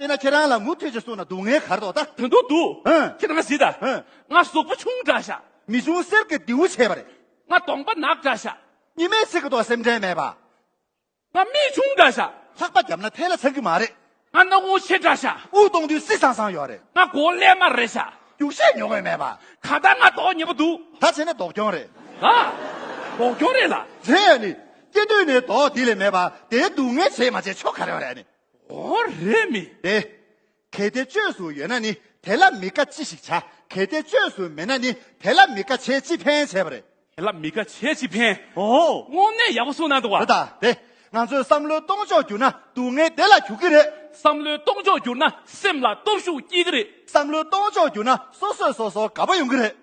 དཔེར་ན་ཁྱེད་རང་ལ་མུ་མཐུད་ཅིག་གསུངས་ན་སྡུག་བསྔལ་གར་དོགས་ད། དོན་དུ་འདུག། ཧུན། ཁྱེད་རང་གཟིགས་ད། ཧུན། ང་གཟུགས་པོ་ཆུང་འདྲ་ཤག། མི་ཆུང་གསེར་གྱི་རྡེའུ་ཆེ་བ་རེད། ང་གདོང་པ་ནག་འདྲ་ཤག། ཉི་མའི་ཚིག་གི་ཐོག་སེམས་ཁྲལ་མེད་པ། ང་མིག་ཆུང་འདྲ་ཤག། ལྷག་པ་བརྒྱབ་ན་ཐལ་ལ་འཚང་གི་མ་རེད། ང་སྣ་བོང་ཆེ་འདྲ་ཤག། དབུགས་གཏོང་དུས་སྲིད་སང་སང་ཡོད་རེད། ང་མགོ་ཀླད་དམར་རེད་ཤག། རྒྱུགས་ཤས་ཉོ་དགོས་མེད་པ། གང་ལྟར་ང་དོགས་ཉེས་པོ་འདུག། ད་བྱས་ན་དོགས་སྐྱོང་རེད། ད། དོགས་སྐྱོང་རེད་ལ། དེ་ཡང་ནི། སྐྱེ་དུས་ནས་དོགས་འདི་ལས་མེད་པ། དེའི་སྡུག་བསྔལ་བྱས་མ་བྱས་ཆོག་ག་རེ་བ་རེད་ཨ་ནི། འོ་རེད་མི། རེད། གལ་ཏེ་བཅོས་སུ་ཡོད་ན་ནི་དེ་ལ་མི་དགའ་ཅི་ཞིག་བྱ། གལ་ཏེ་བཅོས་སུ་མེད་ན་ནི་དེ་ལ་མི་དགའ་བྱས་ཅི་ཕན་བྱས་པ་རེད། དེ་ལ་མི་དགའ་བྱས་ཅི་ཕན། འོ། དངོས་གནས་ཡག་པོ་གསུངས་གནང་འདུག་བ། རེད་ད་རེད། ང་ཚོའི་བསམ་བློའི་སྟོང་ཕྱོགས་འགྱུར་ན་སྡུག་བསྔལ་བདེ་ལ་གྱུར་གྱི་རེད། བསམ་བློའི་སྟོང་ཕྱོགས་འགྱུར་ན་སེམས་ལ་སྟོབས་ཤུགས་སྐྱེ་གི་རེད། བསམ་བློའི་སྟོང་ཕྱོགས་འགྱུར་ན་སོ་སོས་སོ་སོར་དགའ་པོ་ཡོང་གི་རེད།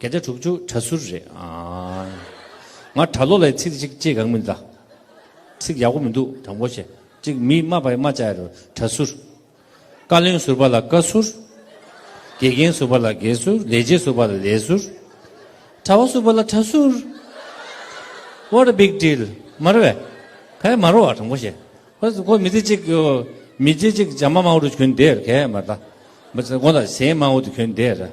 གད་སྒྲ་དྲུག་ཅུ་གྲ་ཟུར་རེད་ཨ། ང་གྲྭ་ལོ་ལའི་ཚིག་གཅིག་ཅེས་གང་མིན་ལ། ཚིག་ཡག་པོ་མི་འདུག་དྲང་པོ་བྱེད་ཅིག་མི་སྨྲ་བའི་སྨྲ་བྱ་རུ་གྲ་ཟུར། བཀའ་བློན་ཟུར་པ་ལ་བཀའ་ཟུར། དགེ་རྒན་ཟུར་པ་ལ་དགེ་ཟུར་ལས་བྱེད་ཟུར་པ་ལ་ལས་ཟུར། གྲྭ་བ་ཟུར་པ་ལ་གྲྭ་ཟུར། What a big deal མ་རེད་བས། གས་མ་རོ་བ་དྲང་པོ་བྱེད། ཁོ་མི་ཚེ་གཅིག་གི་མི་རྗེ་གཅིག་བྱམས་མ་མང་བོ་རུ་གྱོན་བསྡད་ར་གས་མ་རེད། མི་ཚེ་གོང་ལ་གཞན་མང་བོ་དུ་གྱོན་བསྡད་ར།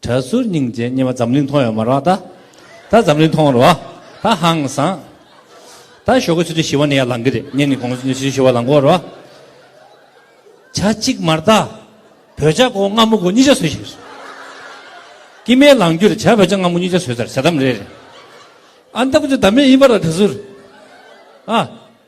གྲྭ་ཟུར་སྙིང་རྗེ་སྙེ་མ་འཛམ་གླིང་མཐོང་ཡོད་མ་རོག་ད་ད་འཛམ་གླིང་མཐོང་རོག་ད་ཧང་སང་ད་ཞོག་གི་ཚུལ་དུ་ཞི་བ་ནི་ཡར་ལང་གི་རེད་སྙེ་ནི་གོང་ཚུལ་དུ་ཞི་བ་ལང་གོ་རོག་བྱ་གཅིག་མར་ད་བོད་བྱ་གོ་སྔ་མོ་གོ་གཉིས་བྱ་ཟོས་ཞིག་རེད་ཀྱི་མའི་ལང་རྒྱུ་རེད་བྱ་བོད་བྱ་སྔ་མོ་གཉིས་བྱ་ཟོས་ད་རེད་བྱ་དམ་རེད་རེད་ཨ་འདམ་གྱི་དམ་མེ་ཡིན་པ་རོག་གྲྭ་ཟུར་ཨ།